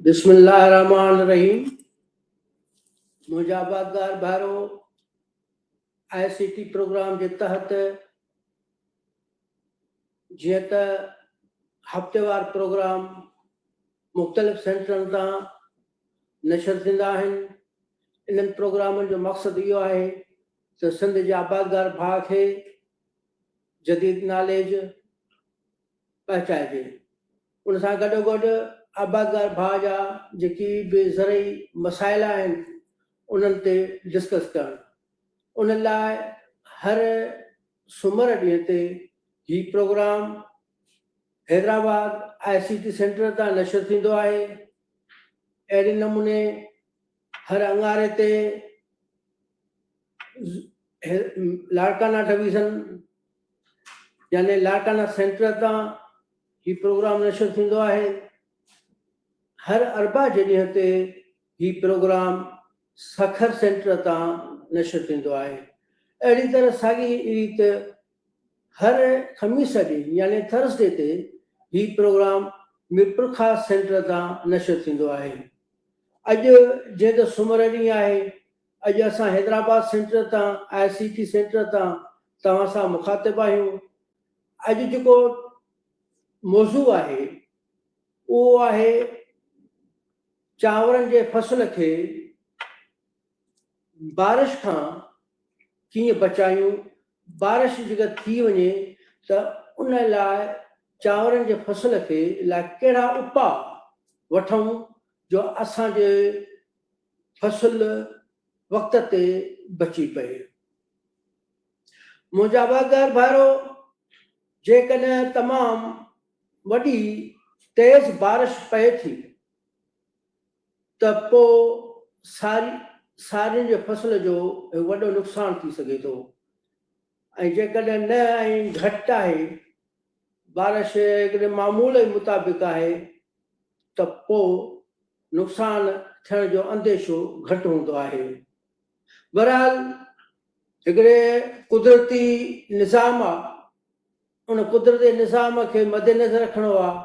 بسم الله الرحمن الرحيم مجابات دار بھارو آئی سی ٽي پروگرام جي تحت جيئن ته هفتيوار پروگرام مختلف سينٽرن تان نشر ٿيندا آهن. انهن پروگرامن جو مقصد اهو آهي ته سنڌ جي آبادگار ڀاء کي جديد ناليج پهچائجي. ان سان گڏوگڏ آبادگار ڀاء جا جيڪي به زرعي مسائل آهن انهن تي ڊسڪس ڪرڻ. ان لاء هر سومر ڏينهن تي هي programme Hyderabad I C T centre تان نشر ٿيندو آهي. اهڙي نموني هر اڱاري تي لاڙڪانا ڊويزن يعني لاڙڪانا سينٽر تان هي پروگرام نشر ٿيندو آهي. هر اربع جي ڏينهن تي هي پروگرام سکر سينٽر تان نشر ٿيندو آهي. اهڙي طرح ساڳي ريت هر خميس ڏينهن يعني ٿرسڊي تي هي پروگرام ميرپورخاص سينٽر تان نشر ٿيندو آهي. اڄ جيئن ته سومر ڏينهن آهي اڄ اسان حيدرآباد سينٽر تان آء سي ٽي سينٽر تان توهان سان مخاطب آهيون. اڄ جيڪو موضوع آهي اهو آهي چانورن جي فصل کي بارش کان ڪيئن بچايون بارش جيڪر ٿي وڃي ته ان لاء چانورن جي فصل کي لاء ڪهڙا اپاء وٺون جو اسان جي فصل وقت تي بچي پئي. منهنجا واڳار ڀائرو جيڪڏهن تمام وڏي تيز بارش پئي ٿي. ته پوء ساري سارين جي فصل جو وڏو نقصان ٿي سگهي ٿو ۽ جيڪڏهن نه ۽ گهٽ آهي بارش جيڪڏهن معمول جي مطابق آهي ته پوء نقصان ٿيڻ جو انديشو گهٽ هوندو آهي. بهرحال هڪڙي قدرتي نظام آهي ان قدرتي نظام کي مدنظر رکڻو آهي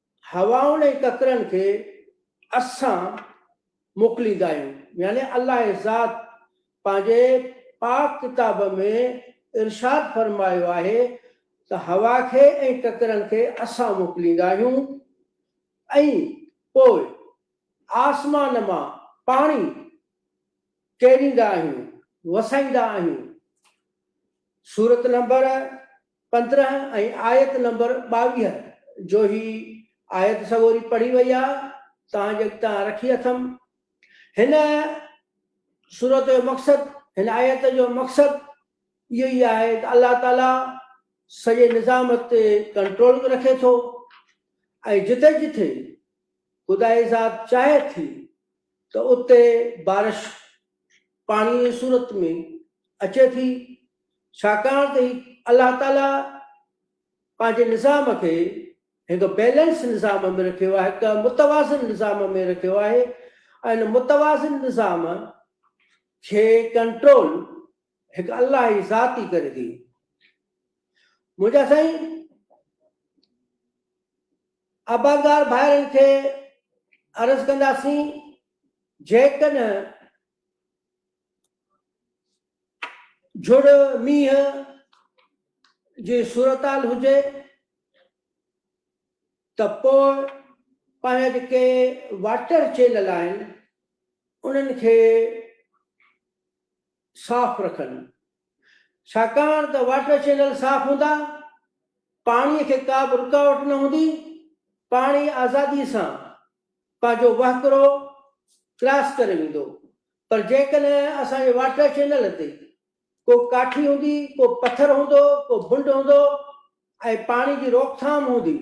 هوائن ۽ ڪڪرن کي اسان موڪليندا آهيون يعني الله ذات پنهنجي پاڪ ڪتاب ۾ ارشاد فرمايو آهي ته هوا کي ۽ ڪڪرن کي اسان موڪليندا آهيون ۽ پوء آسمان مان پاڻي ڪيريندا آهيون، وسائيندا آهيون، سورت نمبر. پندرهن ۽ آيت نمبر ٻاويهه جو هي آيت سڳوري پڙهي وئي آ توهان جي اڳتان رکي اٿم. هن سورت جو مقصد، هن آيت جو مقصد اهو ئي آهي ته الله تعاليٰ سڄي نظام تي ڪنٽرول به رکي ٿو ۽ جٿي جٿي خدائي ذات چاهي ٿي ته اتي بارش پاڻيء جي صورت ۾ اچي ٿي، ڇاڪاڻ ته هي الله تعاليٰ پنهنجي نظام کي هڪ بيلنس نظام ۾ رکيو آهي، هڪ متوازن نظام ۾ رکيو آهي ۽ ان متوازن نظام کي ڪنٽرول هڪ الله جي ذات ئي ڪري ٿي. منهنجا سائين! عبادگار ڀائرن کي عرض ڪنداسين جيڪڏهن جھڙ مينهن جي صورتحال هجي ته پوء پنهنجا جيڪي واٽر چينل آهن انهن کي صاف رکن ڇاڪاڻ ته واٽر چينل صاف هوندا پاڻي کي ڪا به رڪاوٽ نه هوندي پاڻي آزادي سان پنهنجو وهڪرو ڪراس ڪري ويندو پر جيڪڏهن اسان جي واٽر چينل تي ڪو ڪاٺي هوندي ڪو پٿر هوندو ڪو بنڊ هوندو ۽ پاڻي جي روڪٿام هوندي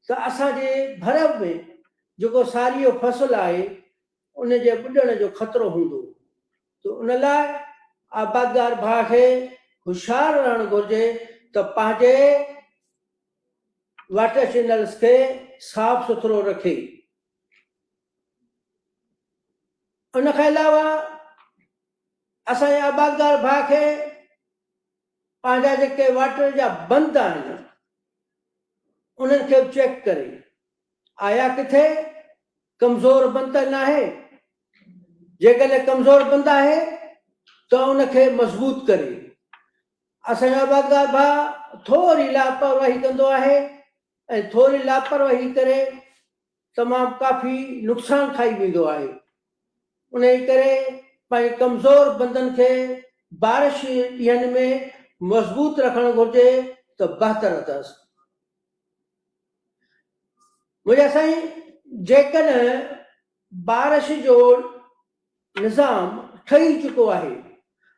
ته اسان جي ڀر ۾ جيڪو ساريء جو فصل آهي ان جي ٻڏڻ جو خطرو هوندو ته ان لاء آبادگار ڀاء کي هوشيار رهڻ گهرجي ته پنهنجي واٽر چينلز کي صاف سٿرو رکي. ان کان علاوه اسان جي آبادگار ڀاء کي پنهنجا جيڪي واٽر جا بند آهن انهن کي به چيڪ ڪري. آيا ڪٿي ڪمزور بند ته ناهي؟ جيڪڏهن ڪمزور بند آهي ته ان کي مضبوط ڪري. اسان جو آبادگار ڀاء ٿوري لاپرواهي ڪندو آهي ۽ ٿوري لاپرواهي ڪري تمام ڪافي نقصان کائي ويندو آهي. انهي ڪري پنهنجي ڪمزور بندن کي بارش جي ڏينهن ۾ مضبوط رکڻ گهرجي ته بهتر اٿس. موليٰ سائين جيڪڏهن بارش جو نظام ٺهي چڪو آهي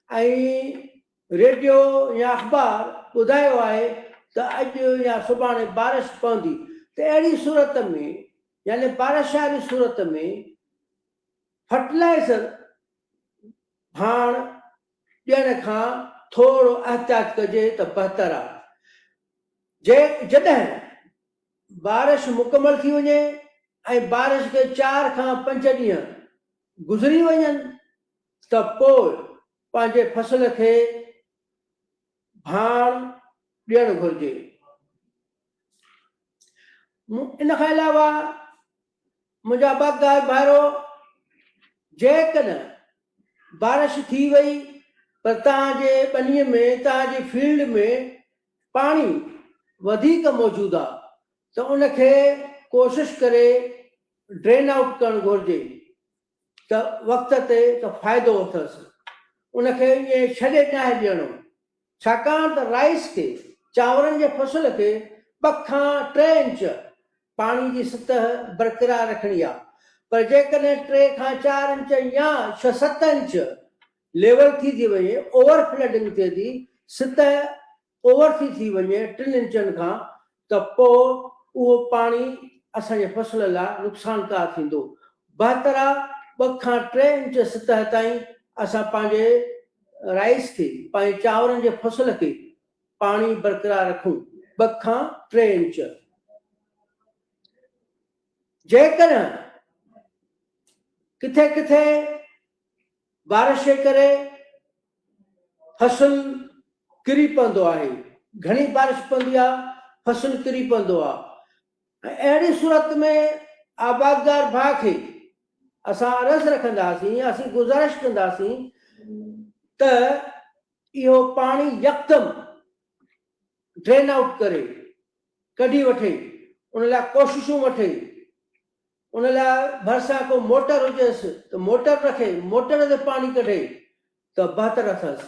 ۽ ريڊيو يا اخبار ٻڌايو آهي ته اڄ يا سڀاڻي بارش پوندي ته اهڙي صورت ۾ يعني بارش واري صورت ۾ فرٽلائيزر ڀاڻ ڏيڻ کان ٿورو احتياط ڪجي ته بهتر آهي. جي جڏهن بارش مڪمل ٿي وڃي ۽ بارش کي چار کان پنج ڏينهن گذري وڃن ته پوء پنهنجي فصل کي ڀاڻ ڏيڻ گهرجي. ان کان علاوه منهنجا باغدار ڀائرو! جيڪڏهن بارش ٿي وئي پر توهان جي ٻنيء ۾ توهان جي فيلڊ ۾ پاڻي وڌيڪ موجود آ ته ان کي ڪوشش ڪري ڊرين آئوٽ ڪرڻ گهرجي. ته وقت تي ته فائدو اٿس ان کي ائين ڇڏي ناهي ڏيڻو ڇاڪاڻ ته رائيس کي، چانورن جي فصل کي، ٻه کان ٽي انچ پاڻي جي سطح برقرار رکڻي آهي پر جيڪڏهن ٽي کان چار انچ يا ڇهه ست انچ ليول ٿي ٿي وڃي، اوور فلڊنگ ٿئي ٿي، سطح اوورسي ٿي وڃي ٽن انچن کان ته پوء اهو پاڻي اسان جي فصل لاء نقصانڪار ٿيندو. بهتر آ ٻه کان ٽي انچ سطح تائين اسان پنهنجي رائيس کي، پنهنجي چانورن جي فصل کي پاڻي برقرار رکون، ٻه کان ٽي انچ. جيڪڏهن ڪٿي ڪٿي بارش جي ڪري فصل ڪري پوندو آهي، گهڻي بارش پوندي آ فصل ڪري پوندو آ ۽ اهڙي صورت ۾ آبادگار ڀاء کي اسان عرض رکنداسين يا اسين گذارش ڪنداسين ته اهو پاڻي يڪدم ڊرين آئوٽ ڪري ڪڍي وٺي ان لاء ڪوششون وٺي. ان لاء ڀرسان ڪو موٽر هجيس ته موٽر رکي موٽر تي پاڻي ڪڍي ته بهتر اٿس.